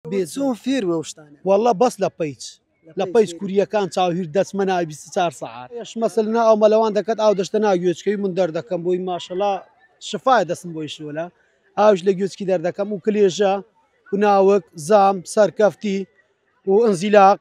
بێ چۆن فێر وەو شتانە. واللە بەس لە پەیج لە پەیج کوریەکان چاو هیر دەچمە ناوی بیست و چار سەعات ئێش مەسل نا ئەو مەلەوان دەکەت ئاو دەشتە ناو گوێچکەی من دەردەکەم بۆی ماشەڵا شفایە دەسم بۆی شۆلە ئاوش لە گوێچکی دەردەکەم و کلێژە و ناوک زام سەرکەفتی و ئەنزیلاق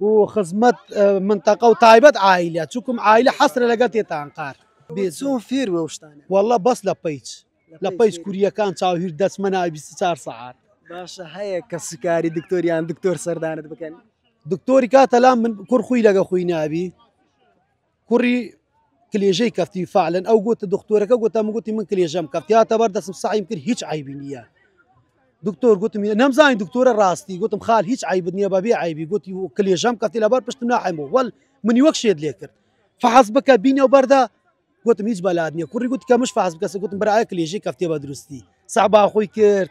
و خزمەت منتەقە و تایبەت عیلە چکم عیلە حەسرە لەگە تێتان قار بێزۆ فێر وەشتان وەڵە بەس لە پیچ لە پیچ کوریەکان چاوهیر دەچمە ناوی 24 سەعات باشە هەیە کە سکاری دکتۆریان دکتۆر سەردانت بکەن دکتۆری کاتەلا من کوڕ خوی لەگە خوی نابی کوڕی کلێژەی کەفتی فعلەن ئەو گوتە دکتۆرەکە گوتە من گوتی من کلێژەم کەفتیاتە بەر دەسم سعیم کرد هیچ عیبی نییە دکتۆر گوتم نەمزانی دکتۆرە ڕاستی گوتم خال هیچ عیبت نییە بەبێ عیبی گوتی و کلێژەم کەفتی لەبەر پشتم ناحم بوو وەل منی وەک شێت لێ کرد فحز بکە بینە و بەردا گوتم هیچ بەلات نییە کوڕی گوت کە مش فاز بکەس گوتم برایە کلێژی کەفتێ بە دروستی سەعبا خۆی کرد